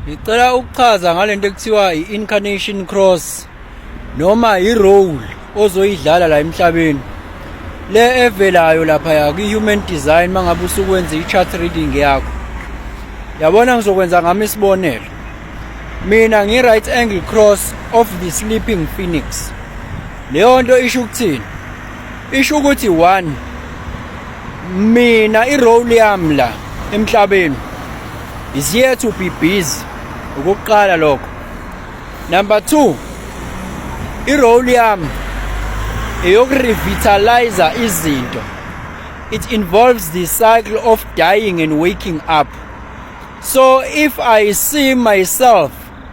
Ngicela ukuchaza ngalento ekuthiwa i-incarnation cross noma i-role ozoyidlala la emhlabeni le evelayo lapha ya kwi-human design mangabe usukwenza i-chart reading yakho yabona ngizokwenza ngami isibonelo mina ngi-right angle cross of the sleeping phoenix leyo nto isho ukuthini isho ukuthi one mina irole yami la emhlabeni is here to be busy ukuqala lokho number 2 irole yami eyokurevitalize izinto it involves the cycle of dying and waking up so if i see myself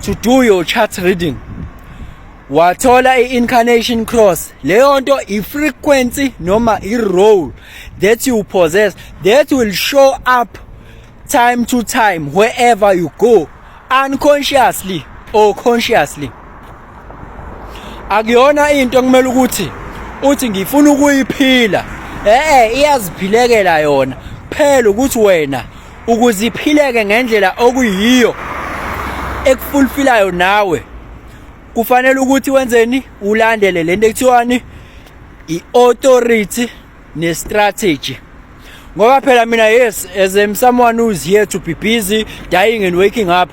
to do your chart reading wathola i-incarnation cross leyo nto i-frequency noma i-role that you possess that will show up time to time wherever you go unconsciously or consciously akuyona into kumele ukuthi uthi ngifuna ukuyiphila eh iyaziphilekela yona phela ukuthi wena ukuze iphileke ngendlela okuyiyo ekufulfilayo nawe kufanele ukuthi wenzeni ulandele lento ekuthiwani i-authority ne-strategy ngoba phela mina yes as um, someone who's here to be busy dying and waking up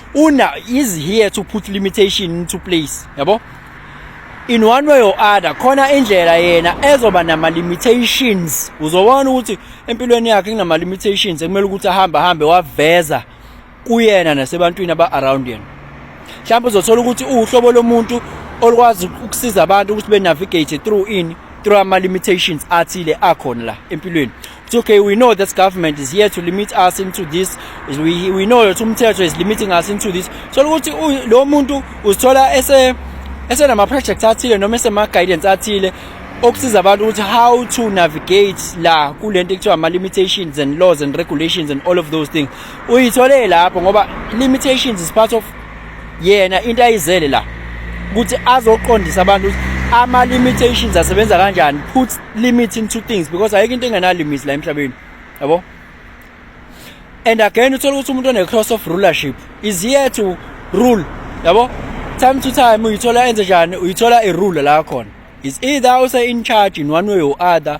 una is here to put limitation into place yabo in one way or other khona indlela yena ezoba nama limitations uzobona ukuthi empilweni yakhe kunama limitations ekumele ukuthi ahambe ahambe waveza kuyena nasebantwini aba around yena mhlawumbe uzothola ukuthi uhlobo lomuntu olwazi ukusiza abantu ukuthi be navigate through ini through ama limitations athile akhona la empilweni It's okay, we know this government is here to limit us into this. We, we know that umthetho is limiting us into this. So ukuthi lo muntu uzithola ese esenama projects athile noma esema guidance athile okusiza abantu ukuthi how to navigate la kulento ekuthiwa ama limitations and laws and regulations and all of those things uyithole lapho ngoba limitations is part of yena into ayizele la ukuthi azoqondisa abantu ama limitations asebenza kanjani put limit into things because ayikho into engena limits la emhlabeni yabo and again uthola ukuthi umuntu one cross of rulership is here to rule yabo time to time uyithola enze njani uyithola i rule la khona is either use in charge in one way or other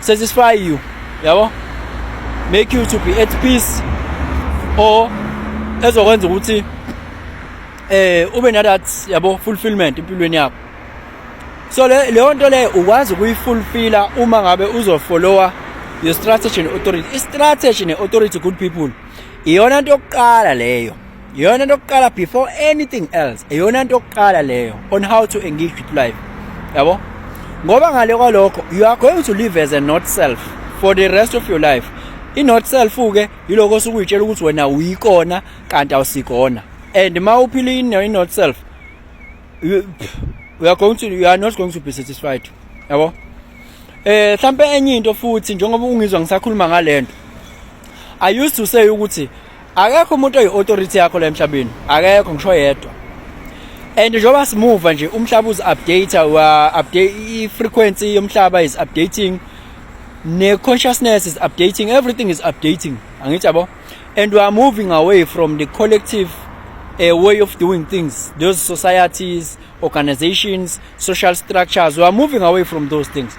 satisfy you yabo make you to be at peace or ezokwenza ukuthi eh ube na that yabo fulfillment empilweni yakho so le leyo nto le ukwazi ukuyifulfilla uma ngabe uzofollowa your strategy ne authority i strategy ne authority good people iyona nto yokuqala leyo iyona nto yokuqala before anything else iyona nto yokuqala leyo on how to engage with life yabo ngoba ngale kwalokho you are going to live as a not self for the rest of your life i-not self ke yiloko osuke uyitshela ukuthi wena uyikona kanti awusikona and ma uphila i-not self you, you are going to you are not going to be satisfied yabo eh mhlambe enye into futhi njengoba ungizwa ngisakhuluma ngalento i used to say ukuthi akekho umuntu oyi-authority yakho la emhlabeni akekho ngisho yedwa and njengoba simuva nje umhlaba uzi-update wa-update i-frequency yomhlaba is updating ne-consciousness is updating everything is updating angithi yabo and we are moving away from the collective a way of doing things those societies organizations social structures we are moving away from those things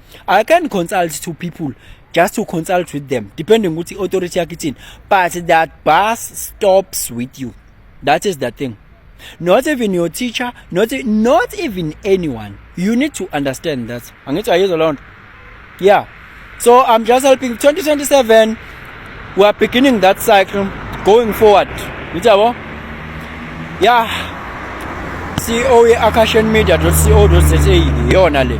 I can consult to people just to consult with them depending ukuthi authority yakhe ithini but that bus stops with you that is the thing not even your teacher not, e, not even anyone you need to understand that angithi ayizwa loo nto yeah so i'm just helping 2027 we are beginning that cycle going forward ngithi yabo yeah ceo ye-acashion media co za yiyona le